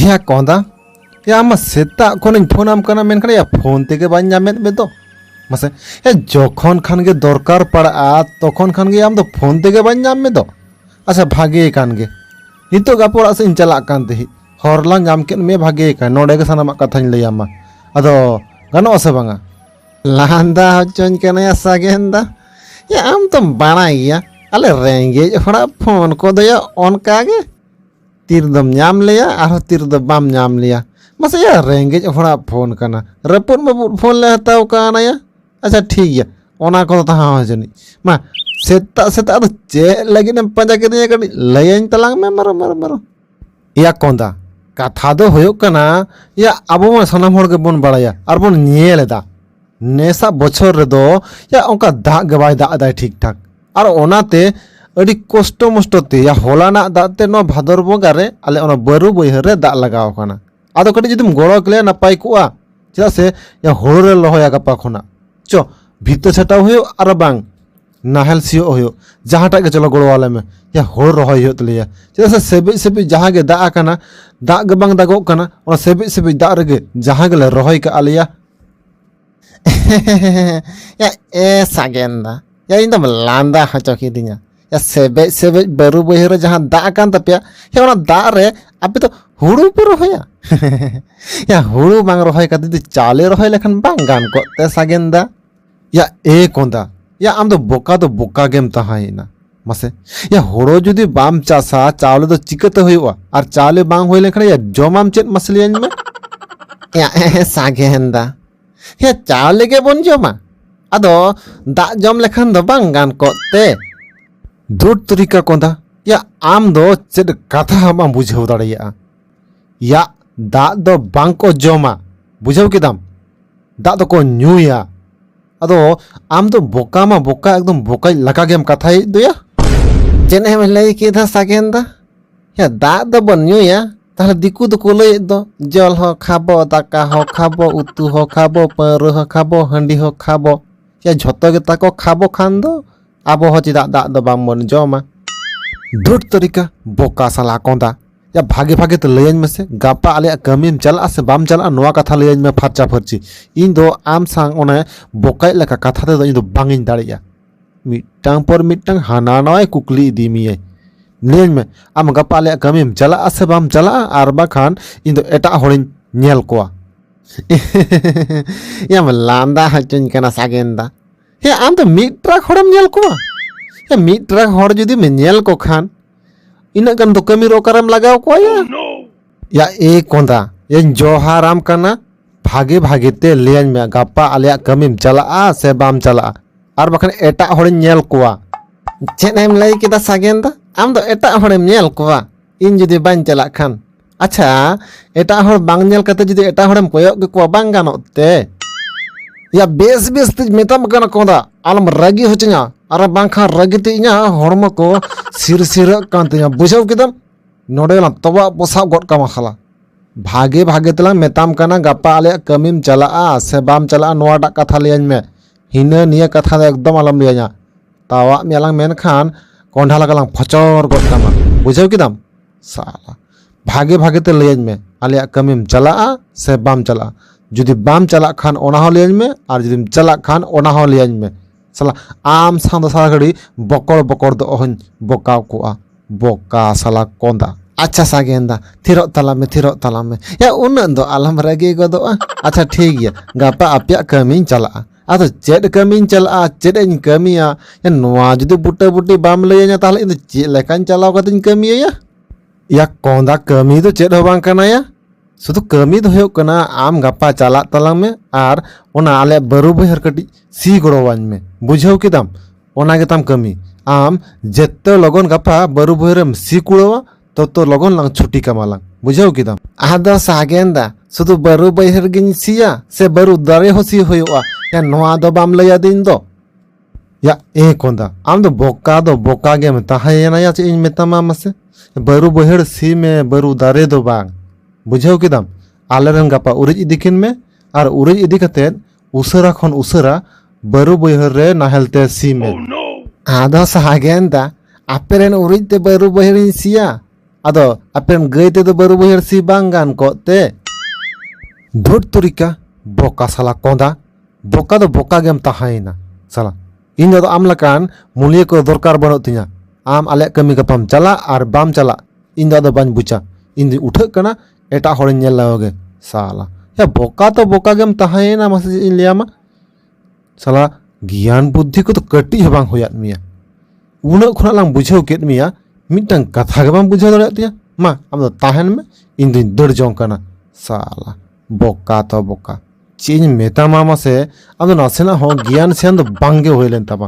ᱦᱮᱸ ᱠᱚᱸᱫᱟ ᱭᱟ ᱟᱢ ᱥᱮᱛᱟᱜ ᱠᱷᱚᱱᱤᱧ ᱯᱷᱳᱱ ᱟᱢ ᱠᱟᱱᱟ ᱢᱮᱱᱠᱷᱟᱱ ᱭᱟ ᱯᱷᱳᱱ ᱛᱮᱜᱮ ᱵᱟᱹᱧ ᱧᱟᱢᱮᱫ ᱢᱮ ᱫᱚ ᱢᱟᱥᱮ ᱭᱟ ᱡᱚᱠᱷᱚᱱ ᱠᱷᱟᱱ ᱜᱮ ᱫᱚᱨᱠᱟᱨ ᱯᱟᱲᱟᱜᱼᱟ ᱛᱚᱠᱷᱚᱱ ᱠᱷᱟᱱ ᱜᱮ ᱟᱢ ᱫᱚ ᱯᱷᱳᱱ ᱛᱮᱜᱮ ᱵᱟᱹᱧ ᱧᱟᱢ ᱢᱮ ᱫᱚ ᱟᱪᱪᱷᱟ ᱵᱷᱟᱜᱮ ᱠᱟᱱ ᱜᱮ ᱱᱤᱛᱚᱜ ᱜᱟᱯᱟ ᱚᱲᱟᱜ ᱥᱮᱫ ᱤᱧ ᱪᱟᱞᱟᱜ ᱠᱟᱱ ᱛᱟᱦᱮᱸᱫ ᱦᱚᱨ ᱞᱟᱝ ᱧᱟᱢ ᱠᱮᱫ ᱢᱮ ᱵᱷᱟᱜᱮ ᱠᱟᱱ ᱱᱚᱰᱮ ᱜᱮ ᱥᱟᱱᱟᱢᱟᱜ ᱠᱟᱛᱷᱟᱧ ᱞᱟᱹᱭᱟᱢᱟ ᱟᱫᱚ ᱜᱟᱱᱚᱜᱼᱟ ᱥᱮ ᱵᱟᱝᱟ ᱞᱟᱸᱫᱟ ᱦᱚᱪᱚᱧ ᱠᱟᱱᱟᱭᱟ ᱥᱟᱜᱮᱱ ᱫᱟ ᱭᱟ ᱟᱢ ᱫᱚᱢ ᱵᱟᱲᱟᱭ ᱜᱮᱭᱟ ᱟᱞᱮ ᱨᱮᱸᱜᱮᱡ ᱦᱚᱲᱟᱜ ᱯᱷᱳᱱ ᱠᱚᱫᱚ ᱭᱟ ᱚᱱᱠᱟ ᱜᱮ ᱛᱤᱨ ᱫᱚᱢ ᱧᱟᱢ ᱞᱮᱭᱟ ᱟᱨᱦᱚᱸ ᱛᱤᱨ ᱫᱚ ᱵᱟᱢ ᱧᱟᱢ ᱞᱮᱭᱟ ᱢᱟᱥᱮ ᱭᱟ ᱨᱮᱸᱜᱮᱡ ᱦᱚᱲᱟᱜ ᱯᱷᱳᱱ ᱠᱟᱱᱟ ᱨᱟᱹᱯᱩᱫ ᱢᱟᱹᱯᱩᱫ ᱯᱷᱳᱱ ᱞᱮ ᱦᱟᱛᱟᱣ ᱠᱟᱣᱱᱟ ᱭᱟ ᱟᱪᱪᱷᱟ ᱴᱷᱤᱠ ᱜᱮᱭᱟ ᱚᱱᱟ ᱠᱚᱫᱚ ᱛᱟᱦᱟᱣ ᱡᱟᱹᱱᱤᱡ ᱢᱟ ᱥᱮᱛᱟᱜ ᱥᱮᱛᱟᱜ ᱫᱚ ᱪᱮᱫ ᱞᱟᱹᱜᱤᱫ ᱮᱢ ᱯᱟᱸᱡᱟ ᱠᱤᱫᱤᱧᱟ ᱠᱟᱹᱴᱤᱡ ᱞᱟᱹᱭᱟᱹᱧ ᱛᱟᱞᱟᱝ ᱢᱮ ᱢᱟᱨᱚ ᱢᱟᱨᱚ ᱢᱟᱨᱚ ᱮᱭᱟ ᱠᱚᱸᱫᱟ ᱠᱟᱛᱷᱟ ᱫᱚ ᱦᱩᱭᱩᱜ ᱠᱟᱱᱟ ᱭᱟ ᱟᱵᱚ ᱢᱟ ᱥᱟᱱᱟᱢ ᱦᱚᱲ ᱜᱮᱵᱚᱱ ᱵᱟᱲᱟᱭᱟ ᱟᱨ ᱵᱚᱱ ᱧᱮᱞ ᱮᱫᱟ ᱱᱮᱥᱟᱜ ᱵᱚᱪᱷᱚᱨ ᱨᱮᱫᱚ ᱭᱟ ᱚᱱᱠᱟ ᱫᱟᱜ ᱜᱮ ᱵᱟᱭ ᱫᱟᱜ ᱮᱫᱟᱭ ᱴᱷᱤᱠ ᱴᱷᱟᱠ ᱟᱨ ᱚᱱᱟᱛᱮ ᱟᱹᱰᱤ ᱠᱚᱥᱴᱚ ᱢᱚᱥᱴᱚ ᱛᱮ ᱭᱟ ᱦᱚᱞᱟᱱᱟᱜ ᱫᱟᱜ ᱛᱮ ᱱᱚᱣᱟ ᱵᱷᱟᱫᱚᱨ ᱵᱚᱸᱜᱟ ᱨᱮ ᱟᱞᱮ ᱚᱱᱟ ᱵᱟᱹᱨᱩ ᱵᱟᱹᱭᱦᱟᱹᱲ ᱨᱮ ᱫᱟᱜ ᱞᱟᱜᱟᱣ ᱟᱠᱟᱱᱟ ᱟᱫᱚ ᱠᱟᱹᱴᱤᱡ ᱡᱩᱫᱤᱢ ᱜᱚᱲᱚ ᱠᱮᱞᱮᱭᱟ ᱱᱟᱯᱟᱭ ᱠᱚᱜᱼᱟ ᱪᱮᱫᱟᱜ ᱥᱮ ᱭᱟ ᱦᱳᱲᱳ ᱞᱮ ᱨᱚᱦᱚᱭᱟ ᱜᱟᱯᱟ ᱠᱷᱚᱱᱟᱜ ᱪᱚ ᱵᱷᱤᱛᱟᱹ ᱪᱷᱟᱴᱟᱣ ᱦᱩᱭᱩᱜ ᱟᱨ ᱵᱟᱝ ᱱᱟᱦᱮᱞ ᱥᱤᱭᱳᱜ ᱦᱩᱭᱩᱜ ᱡᱟᱦᱟᱸᱴᱟᱜ ᱜᱮ ᱪᱚᱞᱚ ᱜᱚᱲᱚ ᱟᱞᱮ ᱢᱮ ᱭᱟ ᱦᱳᱲᱳ ᱨᱚᱦᱚᱭ ᱦᱩᱭᱩᱜ ᱛᱟᱞᱮᱭᱟ ᱪᱮᱫᱟᱜ ᱥᱮ ᱥᱮᱵᱮᱡ ᱥᱮᱵᱮᱡ ᱡᱟᱦᱟᱸ ᱜᱮ ᱫᱟᱜ ᱟᱠᱟᱱᱟ ᱫᱟᱜ ᱜᱮ ᱵᱟᱝ ᱫᱟᱜᱚᱜ ᱠᱟᱱᱟ ᱚᱱᱟ ᱥᱮᱵᱮᱡ ᱥᱮᱵᱮᱡ ᱫᱟᱜ ᱨᱮᱜᱮ ᱡᱟᱦᱟᱸ ᱜᱮᱞᱮ ᱨᱚᱦᱚᱭ ᱠᱟᱜ ᱟᱞᱮᱭᱟ ᱭᱟ ᱮ ᱥᱟᱜᱮᱱ ᱫᱟ ᱭᱟ ᱤᱧ ᱫᱚᱢ ᱞᱟᱸᱫᱟ ᱦᱚᱪᱚ ᱠᱤᱫᱤᱧᱟ ᱭᱟ ᱥᱮᱵᱮᱡ ᱥᱮᱵᱮᱡ ᱵᱟᱹᱨᱩ ᱵᱟᱹᱭᱦᱟᱹᱲ ᱨᱮ ᱡᱟᱦᱟᱸ ᱫᱟᱜ ᱟᱠᱟᱱ ᱛᱟᱯᱮᱭᱟ ᱭᱟ ᱚᱱᱟ ᱫᱟᱜ ᱨᱮ ᱟᱯᱮ ᱫᱚ ᱦᱩᱲᱩ ᱯᱮ ᱨᱚᱦᱚᱭᱟ ᱭᱟ ᱦᱩᱲᱩ ᱵᱟᱝ ᱨᱚᱦᱚᱭ ᱠᱟᱛᱮ ᱡᱩᱫᱤ ᱪᱟᱣᱞᱮ ᱨᱚᱦᱚᱭ ᱞᱮᱠᱷᱟᱱ ᱵᱟᱝ ᱜᱟᱱ ᱠᱚᱜ ᱛᱮ ᱥᱟᱜᱮᱱ ᱫᱟ ᱭᱟ ᱮ ᱠᱚᱸᱫᱟ ᱭᱟ ᱟᱢ ᱫᱚ ᱵᱚᱠᱟ ᱫᱚ ᱵᱚᱠᱟ ᱜᱮᱢ ᱛᱟᱦᱮᱸᱭᱮᱱᱟ ᱢᱟᱥᱮ ᱭᱟ ᱦᱳᱲᱳ ᱡᱩᱫᱤ ᱵᱟᱢ ᱪᱟᱥᱟ ᱪᱟᱣᱞᱮ ᱫᱚ ᱪᱤᱠᱟᱹᱛᱮ ᱦᱩᱭᱩᱜᱼᱟ ᱟᱨ ᱪᱟᱣᱞᱮ ᱵᱟᱝ ᱦᱩᱭ ᱞᱮᱱᱠᱷᱟᱱ ᱭᱟ ᱡᱚᱢᱟᱢ ᱪᱮᱫ ᱢᱟᱥᱮ ᱞᱟᱹᱭᱟᱹᱧ ᱢᱮ ᱭᱟ ᱮ ᱥᱟᱜᱮᱱᱫᱟ ᱭᱟ ᱪᱟᱣᱞᱮ ᱜᱮ ᱵᱚᱱ ᱡᱚᱢᱟ ᱟᱫᱚ ᱫᱟᱜ ᱡᱚᱢ ᱞᱮᱠᱷᱟᱱ ᱫᱚ ᱵᱟᱝ ᱜᱟᱱ ᱠᱚᱜ ᱛᱮ ᱫᱩᱴ ᱛᱩᱨᱤᱠᱟ ᱠᱚᱸᱫᱟ ᱭᱟ ᱟᱢ ᱫᱚ ᱪᱮᱫ ᱠᱟᱛᱷᱟ ᱦᱚᱸ ᱵᱟᱢ ᱵᱩᱡᱷᱟᱹᱣ ᱫᱟᱲᱮᱭᱟᱜᱼᱟ ᱭᱟᱜ ᱫᱟᱜ ᱫᱚ ᱵᱟᱝ ᱠᱚ ᱡᱚᱢᱟ ᱵᱩᱡᱷᱟᱹᱣ ᱠᱮᱫᱟᱢ ᱫᱟᱜ ᱫᱚᱠᱚ ᱧᱩᱭᱟ ᱟᱫᱚ ᱟᱢ ᱫᱚ ᱵᱚᱠᱟ ᱢᱟ ᱵᱚᱠᱟ ᱮᱠᱫᱚᱢ ᱵᱚᱠᱟᱭ ᱞᱟᱠᱟ ᱜᱮᱢ ᱠᱟᱛᱷᱟᱭᱮᱫ ᱫᱚᱭᱟ ᱪᱮᱫ ᱮᱢ ᱞᱟᱹᱭ ᱠᱮᱫᱟ ᱥᱟᱜᱮᱱ ᱫᱟ ᱭᱟ ᱫᱟᱜ ᱫᱚ ᱵᱚᱱ ᱧᱩᱭᱟ ᱛᱟᱦᱞᱮ ᱫᱤᱠᱩ ᱫᱚᱠᱚ ᱞᱟᱹᱭᱮᱫ ᱫᱚ ᱡᱚᱞ ᱦᱚᱸ ᱠᱷᱟᱵᱚ ᱫᱟᱠᱟ ᱦᱚᱸ ᱠᱷᱟᱵᱚ ᱩᱛᱩ ᱦᱚᱸ ᱠᱷᱟᱵᱚ ᱯᱟᱹᱣᱨᱟᱹ ᱦᱚᱸ ᱠᱷᱟᱵᱚ ᱦᱟᱺᱰᱤ ᱦᱚᱸ ᱠᱷᱟᱵᱚ ᱭᱟ ᱡᱷᱚᱛᱚ ᱜᱮᱛᱟ ᱠᱚ ᱠᱷᱟᱵᱚ ᱠᱷᱟᱱ ᱫᱚ ᱟᱵᱚ ᱦᱚᱸ ᱪᱮᱫᱟᱜ ᱫᱟᱜ ᱫᱚ ᱵᱟᱝ ᱵᱚᱱ ᱡᱚᱢᱟ ᱫᱩᱴ ᱛᱟᱹᱨᱤᱠᱟ ᱵᱚᱠᱟ ᱥᱟᱞᱟ ᱠᱚᱸᱫᱟ ᱭᱟ ᱵᱷᱟᱜᱮ ᱵᱷᱟᱜᱮ ᱛᱮ ᱞᱟᱹᱭᱟᱹᱧ ᱢᱮᱥᱮ ᱜᱟᱯᱟ ᱟᱞᱮᱭᱟᱜ ᱠᱟᱹᱢᱤᱢ ᱪᱟᱞᱟᱜᱼᱟ ᱥᱮ ᱵᱟᱢ ᱪᱟᱞᱟᱜᱼᱟ ᱱᱚᱣᱟ ᱠᱟᱛᱷᱟ ᱞᱟᱹᱭᱟᱹᱧ ᱢᱮ ᱯᱷᱟᱨᱪᱟ ᱯᱷᱟᱨᱪᱤ ᱤᱧ ᱫᱚ ᱟᱢ ᱥᱟᱝ ᱚᱱᱮ ᱵᱚᱠᱟᱭ ᱞᱮᱠᱟ ᱠᱟᱛᱷᱟ ᱛᱮᱫᱚ ᱤᱧ ᱫᱚ ᱵᱟᱝ ᱤᱧ ᱫᱟᱲᱮᱭᱟᱜᱼᱟ ᱢᱤᱫᱴᱟᱝ ᱯᱚᱨ ᱢᱤᱫᱴᱟᱝ ᱦᱟᱱᱟ ᱱᱟᱣᱟᱭ ᱠᱩᱠᱞᱤ ᱤᱫᱤ ᱢᱮᱭᱟᱭ ᱞᱟᱹᱭᱟᱹᱧ ᱢᱮ ᱟᱢ ᱜᱟᱯᱟ ᱟᱞᱮᱭᱟᱜ ᱠᱟᱹᱢᱤᱢ ᱪᱟᱞᱟᱜᱼᱟ ᱥᱮ ᱵᱟᱢ ᱪᱟᱞᱟᱜᱼᱟ ᱟᱨ ᱵᱟᱠᱷᱟᱱ ᱤᱧ ᱫᱚ ᱮᱴᱟᱜ ᱦᱚᱲᱤᱧ ᱧᱮᱞ ᱠᱚᱣᱟ ᱭᱟᱢ ᱞᱟᱸᱫᱟ ᱦᱚᱪᱚᱧ ᱠᱟᱱᱟ ᱥᱟᱜᱮᱱ ᱫᱟ ᱦᱮᱸ ᱟᱢ ᱫᱚ ᱢᱤᱫ ᱴᱨᱟᱠ ᱦᱚᱲᱮᱢ ᱧᱮᱞ ᱠᱚᱣᱟ ᱦᱮᱸ ᱢᱤᱫ ᱴᱨᱟᱠ ᱦᱚᱲ ᱡᱩᱫᱤᱢ ᱧᱮᱞ ᱠᱚ ᱠᱷᱟᱱ ᱤᱱᱟᱹᱜ ᱜᱟᱱ ᱫᱚ ᱠᱟᱹᱢᱤ ᱨᱮ ᱚᱠᱟᱨᱮᱢ ᱞᱟᱜᱟᱣ ᱠᱚᱣᱟ ᱭᱟ ᱮ ᱠᱚᱸᱫᱟ ᱤᱧ ᱡᱚᱦᱟᱨᱟᱢ ᱠᱟᱱᱟ ᱵᱷᱟᱜᱮ ᱵᱷᱟᱜᱮ ᱛᱮ ᱞᱟᱹᱭᱟᱹᱧ ᱢᱮ ᱜᱟᱯᱟ ᱟᱞᱮᱭᱟᱜ ᱠᱟᱹᱢᱤᱢ ᱪᱟᱞᱟᱜᱼᱟ ᱥᱮ ᱵᱟᱢ ᱪᱟᱞᱟᱜᱼᱟ ᱟᱨ ᱵᱟᱠᱷᱟᱱ ᱮᱴᱟᱜ ᱦᱚᱲᱤᱧ ᱧᱮᱞ ᱠᱚᱣᱟ ᱪᱮᱫ ᱮᱢ ᱞᱟᱹᱭ ᱠᱮᱫᱟ ᱥᱟᱜᱮᱱ ᱫᱟ ᱟᱢ ᱫᱚ ᱮᱴᱟᱜ ᱦᱚᱲᱮᱢ ᱧᱮᱞ ᱠᱚᱣᱟ ᱤᱧ ᱡᱩᱫᱤ ᱵᱟᱹᱧ ᱪᱟᱞᱟᱜ ᱠᱷᱟᱱ ᱟᱪᱪᱷᱟ ᱮᱴᱟᱜ ᱦᱚᱲ ᱵᱟᱝ ᱧᱮᱞ ᱠᱟᱛᱮ ᱡᱩᱫᱤ ᱮᱴᱟᱜ ᱦᱚᱲᱮᱢ ᱠᱚᱭᱚᱜ ᱠᱮᱠᱚᱣᱟ ᱵᱟᱝ ᱜᱟᱱᱚᱜ ᱛᱮ ᱭᱟ ᱵᱮᱥ ᱵᱮᱥ ᱛᱮ ᱢᱮᱛᱟᱢ ᱠᱟᱱᱟ ᱠᱚᱸᱫᱟ ᱟᱞᱚᱢ ᱨᱟᱹᱜᱤ ᱦᱚᱪᱚᱧᱟ ᱟᱨ ᱵᱟᱝᱠᱷᱟᱱ ᱨᱟᱹᱜᱤ ᱛᱮ ᱤᱧᱟᱹᱜ ᱦᱚᱲᱢᱚ ᱠᱚ ᱥᱤᱨᱥᱤᱨᱟᱹᱜ ᱠᱟᱱ ᱛᱤᱧᱟ ᱵᱩᱡᱷᱟᱹᱣ ᱠᱮᱫᱟᱢ ᱱᱚᱰᱮ ᱞᱟᱝ ᱛᱚᱵᱟᱜ ᱯᱚᱥᱟᱜ ᱜᱚᱫ ᱠᱟᱢᱟ ᱥᱟᱞᱟ ᱵᱷᱟᱜᱮ ᱵᱷᱟᱜᱮ ᱛᱮᱞᱟᱝ ᱢᱮᱛᱟᱢ ᱠᱟᱱᱟ ᱜᱟᱯᱟ ᱟᱞᱮᱭᱟᱜ ᱠᱟᱹᱢᱤᱢ ᱪᱟᱞᱟᱜᱼᱟ ᱥᱮ ᱵᱟᱢ ᱪᱟᱞᱟᱜᱼᱟ ᱱᱚᱣᱟᱴᱟᱜ ᱠᱟᱛᱷᱟ ᱞᱟᱹᱭᱟᱹᱧ ᱢᱮ ᱦᱤᱱᱟᱹ ᱱᱤᱭᱟᱹ ᱠᱟᱛᱷᱟ ᱫᱚ ᱮᱠᱫᱚᱢ ᱟᱞᱚᱢ ᱞᱟᱹᱭᱟᱹᱧᱟ ᱛᱟᱣᱟᱜ ᱢᱮᱭᱟᱞᱟᱝ ᱢᱮᱱᱠᱷᱟᱱ ᱠᱚᱸᱰᱷᱟ ᱞᱮᱠᱟᱞᱟᱝ ᱯᱷᱚᱪᱚᱨ ᱜᱚᱫ ᱠᱟᱢᱟ ᱵᱩᱡᱷᱟᱹᱣ ᱠᱮᱫᱟᱢ ᱥᱟᱞᱟ ᱵᱷᱟᱜᱮ ᱵᱷᱟᱜᱮ ᱛᱮ ᱞᱟᱹᱭᱟᱹᱧ ᱢᱮ ᱟᱞᱮᱭᱟᱜ ᱠᱟᱹᱢᱤᱢ ᱪᱟᱞᱟᱜᱼᱟ ᱥᱮ ᱵᱟᱢ ᱪᱟᱞᱟᱜᱼᱟ ᱡᱩᱫᱤ ᱵᱟᱢ ᱪᱟᱞᱟᱜ ᱠᱷᱟᱱ ᱚᱱᱟ ᱦᱚᱸ ᱞᱟᱹᱭᱟᱹᱧ ᱢᱮ ᱟᱨ ᱡᱩᱫᱤᱢ ᱪᱟᱞᱟᱜ ᱠᱷᱟᱱ ᱚᱱᱟ ᱦᱚᱸ ᱞᱟᱹᱭᱟᱹᱧ ᱢᱮ ᱥᱟᱞᱟ ᱟᱢ ᱥᱟᱶ ᱫᱚ ᱥᱟᱨᱟ ᱜᱷᱟᱹᱲᱤ ᱵᱚᱠᱚᱲ ᱵᱚᱠᱚᱲ ᱫᱚ ᱚᱦᱚᱧ ᱵᱚᱠᱟᱣ ᱠᱚᱜᱼᱟ ᱵᱚᱠᱟ ᱥᱟᱞᱟ ᱠᱚᱸᱫᱟ ᱟᱪᱪᱷᱟ ᱥᱟᱜᱮᱱᱫᱟ ᱛᱷᱤᱨᱚᱜ ᱛᱟᱞᱟᱝ ᱢᱮ ᱛᱷᱤᱨᱚᱜ ᱛᱟᱞᱟᱝ ᱢᱮ ᱭᱟ ᱩᱱᱟᱹᱜ ᱫᱚ ᱟᱞᱚᱢ ᱨᱟᱹᱜᱤ ᱜᱚᱫᱚᱜᱼᱟ ᱟᱪᱪᱷᱟ ᱴᱷᱤᱠ ᱜᱮᱭᱟ ᱜᱟᱯᱟ ᱟᱯᱮᱭᱟᱜ ᱠᱟᱹᱢᱤᱧ ᱪᱟᱞᱟᱜᱼᱟ ᱟᱫᱚ ᱪᱮᱫ ᱠᱟᱹᱢᱤᱧ ᱪᱟᱞᱟᱜᱼᱟ ᱪᱮᱫ ᱤᱧ ᱠᱟᱹᱢᱤᱭᱟ ᱱᱚᱣᱟ ᱡᱩᱫᱤ ᱵᱩᱴᱟᱹ ᱵᱩᱴᱤ ᱵᱟᱢ ᱞᱟᱹᱭᱟᱹᱧᱟ ᱛᱟᱦᱚᱞᱮ ᱤᱧ ᱫᱚ ᱪᱮᱫ ᱞᱮᱠᱟᱧ ᱪᱟᱞᱟᱣ ᱠᱟᱛᱮᱧ ᱠᱟᱹᱢᱤᱭᱟᱹᱭᱟ ᱭᱟ ᱠᱚᱸᱫᱟ ᱠᱟᱹᱢᱤ ᱫᱚ ᱪᱮᱫ ᱦᱚᱸ ᱵᱟᱝ ᱠᱟᱱᱟᱭᱟ ᱥᱩᱫᱷᱩ ᱠᱟᱹᱢᱤ ᱫᱚ ᱦᱩᱭᱩᱜ ᱠᱟᱱᱟ ᱟᱢ ᱜᱟᱯᱟ ᱪᱟᱞᱟᱜ ᱛᱟᱞᱟᱝ ᱢᱮ ᱟᱨ ᱚᱱᱟ ᱟᱞᱮ ᱵᱟᱹᱨᱩ ᱵᱟᱹᱭᱦᱟᱹᱲ ᱠᱟᱹᱴᱤᱡ ᱥᱤ ᱜᱚᱲᱚᱣᱟᱹᱧ ᱢᱮ ᱵᱩᱡᱷᱟᱹᱣ ᱠᱮᱫᱟᱢ ᱚᱱᱟ ᱜᱮᱛᱟᱢ ᱠᱟᱹᱢᱤ ᱟᱢ ᱡᱮᱛᱮ ᱞᱚᱜᱚᱱ ᱜᱟᱯᱟ ᱵᱟᱹᱨᱩ ᱵᱟᱹᱭᱦᱟᱹᱲᱮᱢ ᱥᱤ ᱠᱩᱲᱟᱹᱣᱟ ᱛᱚᱛᱚ ᱞᱚᱜᱚᱱ ᱞᱟᱝ ᱪᱷᱩᱴᱤ ᱠᱟᱢᱟᱞᱟᱝ ᱵᱩᱡᱷᱟᱹᱣ ᱠᱮᱫᱟᱢ ᱟᱫᱚ ᱥᱟᱜᱮᱱ ᱫᱟ ᱥᱩᱫᱷᱩ ᱵᱟᱹᱨᱩ ᱵᱟᱹᱭᱦᱟᱹᱲ ᱜᱤᱧ ᱥᱤᱭᱟ ᱥᱮ ᱵᱟᱹᱨᱩ ᱫᱟᱨᱮ ᱦᱚᱸ ᱥᱤ ᱦᱩᱭᱩᱜᱼᱟ ᱮᱱ ᱱᱚᱣᱟ ᱫᱚ ᱵᱟᱢ ᱞᱟᱹᱭ ᱟᱹᱫᱤᱧ ᱫᱚ ᱭᱟ ᱮ ᱠᱚᱸᱫᱟ ᱟᱢ ᱫᱚ ᱵᱚᱠᱟ ᱫᱚ ᱵᱚᱠᱟ ᱜᱮᱢ ᱛᱟᱦᱮᱸᱭᱮᱱᱟ ᱭᱟ ᱪᱮᱫ ᱤᱧ ᱢᱮᱛᱟᱢᱟ ᱢᱟᱥᱮ ᱵᱟᱹᱨᱩ ᱵᱟᱹᱭᱦᱟᱹᱲ ᱥᱤ ᱢᱮ ᱵᱟᱹᱨᱩ ᱫᱟᱨᱮ ᱫᱚ ᱵᱟᱝ ᱵᱩᱡᱷᱟᱹᱣ ᱠᱮᱫᱟᱢ ᱟᱞᱮᱨᱮᱱ ᱜᱟᱯᱟ ᱩᱨᱤᱡ ᱤᱫᱤ ᱠᱤᱱ ᱢᱮ ᱟᱨ ᱩᱨᱤᱡ ᱤᱫᱤ ᱠᱟᱛᱮᱫ ᱩᱥᱟᱹᱨᱟ ᱠᱷᱚᱱ ᱩᱥᱟᱹᱨᱟ ᱵᱟᱹᱨᱩ ᱵᱟᱹᱭᱦᱟᱹᱲ ᱨᱮ ᱱᱟᱦᱮᱞ ᱛᱮ ᱥᱤ ᱢᱮ ᱟᱫᱚ ᱥᱟᱜᱮᱱ ᱫᱟ ᱟᱯᱮᱨᱮᱱ ᱩᱨᱤᱡ ᱛᱮ ᱵᱟᱹᱨᱩ ᱵᱟᱹᱭᱦᱟᱹᱲᱤᱧ ᱥᱤᱭᱟ ᱟᱫᱚ ᱟᱯᱮᱨᱮᱱ ᱜᱟᱹᱭ ᱛᱮᱫᱚ ᱵᱟᱹᱨᱩ ᱵᱟᱹᱭᱦᱟᱹᱲ ᱥᱤ ᱵᱟᱝ ᱜᱟᱱ ᱠᱚᱜ ᱛᱮ ᱫᱷᱩᱴ ᱛᱩᱨᱤᱠᱟ ᱵᱚᱠᱟ ᱥᱟᱞᱟ ᱠᱚᱸᱫᱟ ᱵᱚᱠᱟ ᱫᱚ ᱵᱚᱠᱟ ᱜᱮᱢ ᱛᱟᱦᱮᱸᱭᱮᱱᱟ ᱥᱟᱞᱟ ᱤᱧ ᱫᱚ ᱟᱢ ᱞᱮᱠᱟᱱ ᱢᱩᱞᱤᱭᱟᱹ ᱠᱚ ᱫᱚᱨᱠᱟᱨ ᱵᱟᱹᱱᱩᱜ ᱛᱤᱧᱟ ᱟᱢ ᱟᱞᱮᱭᱟᱜ ᱠᱟᱹᱢᱤ ᱜᱟᱯᱟᱢ ᱪᱟᱞᱟᱜ ᱟᱨ ᱵᱟᱢ ᱪᱟᱞᱟᱜ ᱤᱧ ᱫᱚ ᱟᱫᱚ ᱵᱟᱹᱧ ᱵᱩᱡᱟ ᱤᱧ ᱫᱚᱧ ᱩᱴᱷᱟᱹᱜ ᱠᱟᱱᱟ ᱮᱴᱟᱜ ᱦᱚᱲᱤᱧ ᱧᱮᱞ ᱞᱮᱠᱚ ᱜᱮ ᱥᱟᱞᱟ ᱭᱟ ᱵᱚᱠᱟ ᱛᱚ ᱵᱚᱠᱟ ᱜᱮᱢ ᱛᱟᱦᱮᱸᱭᱮᱱᱟ ᱢᱟᱥᱮ ᱪᱮᱫ ᱤᱧ ᱞᱟᱹᱭᱟᱢᱟ ᱥᱟᱞᱟ ᱜᱮᱭᱟᱱ ᱵᱩᱫᱽᱫᱷᱤ ᱠᱚᱫᱚ ᱠᱟᱹᱴᱤᱡ ᱦᱚᱸ ᱵᱟᱝ ᱦᱩᱭᱟᱫ ᱢᱮᱭᱟ ᱩᱱᱟᱹᱜ ᱠᱷᱚᱱᱟᱜ ᱞᱟᱝ ᱵᱩᱡᱷᱟᱹᱣ ᱠᱮᱫ ᱢᱮᱭᱟ ᱢᱤᱫᱴᱟᱝ ᱠᱟᱛᱷᱟ ᱜᱮ ᱵᱟᱢ ᱵᱩᱡᱷᱟᱹᱣ ᱫᱟᱲᱮᱭᱟᱜ ᱛᱤᱧᱟ ᱢᱟ ᱟᱢ ᱫᱚ ᱛᱟᱦᱮᱱ ᱢᱮ ᱤᱧ ᱫᱩᱧ ᱫᱟᱹᱲ ᱡᱚᱝ ᱠᱟᱱᱟ ᱥᱟᱞᱟ ᱵᱚᱠᱟ ᱛᱚ ᱵᱚᱠᱟ ᱪᱮᱫ ᱤᱧ ᱢᱮᱛᱟᱢᱟ ᱢᱟᱥᱮ ᱟᱢ ᱫᱚ ᱱᱟᱥᱮᱱᱟᱜ ᱦᱚᱸ ᱜᱮᱭᱟᱱ ᱥᱮᱭᱟᱱ ᱫᱚ ᱵᱟᱝᱜᱮ ᱦᱩᱭ ᱞᱮᱱ ᱛᱟᱢᱟ